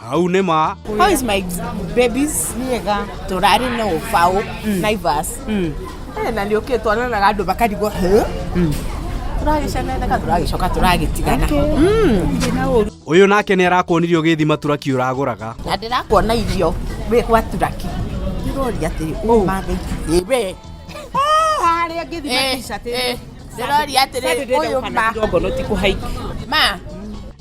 hau nĩ ma How is my babies? Niega. Tũrarĩ na ũbaũ Naivas. Eh, na nĩ ũkĩ twananaga andũ makarigwo "Huh?" tũragĩceneneka tũragĩcoka tũragĩtigana ũyũ nake nĩ arakuonirie ũgĩthima turaki ũragũraga na ndĩrakuona irio wĩ gwa turaki ndĩroria atĩrĩ ũmathĩ ĩwe harĩa ngĩthima Eh, t-shirt eh, ndĩroria atĩrĩ ũyũ ma ma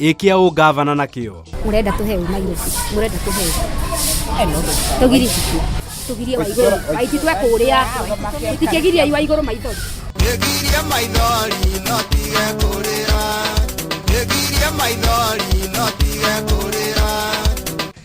ĩkia ũ ngavana na kĩo Murenda tuhe u Nairobi. Murenda tuhe. Tugiri. Tugirie wa iguru. Aiti twe kuria. Tutikigirie wa iguru maitho. Nĩgirie maithori no tige kũrĩra Nĩgirie maithori no tige kũrĩra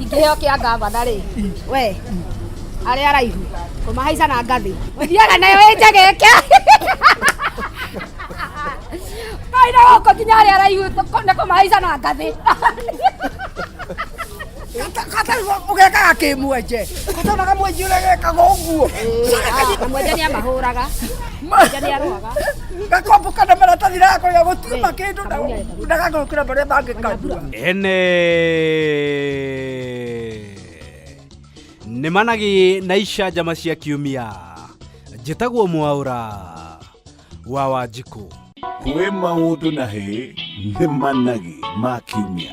ingĩheo kĩa ngavana rĩ we arĩa araihu kũmahaica na ngathĩ ũthiaga nayo ĩnjagĩke kaina gũkũ nginya arĩa araihu nĩ kũmahaica na ngathĩ ũgekaga kä mwenje katonaga mwenji å rä gekaga å guo na mwenje nä amahå raga Maitha nĩ arũaga. Gakombo kana maratathi rako ya gũtiuma kĩndũ na ndagagũkĩra marĩa mangĩkambura. Ene nĩ managi na icanjama cia kiumia njĩtagwo mwaũra wa wanjikũ kwĩ maũndũ na hĩ nĩ managi ma kiumia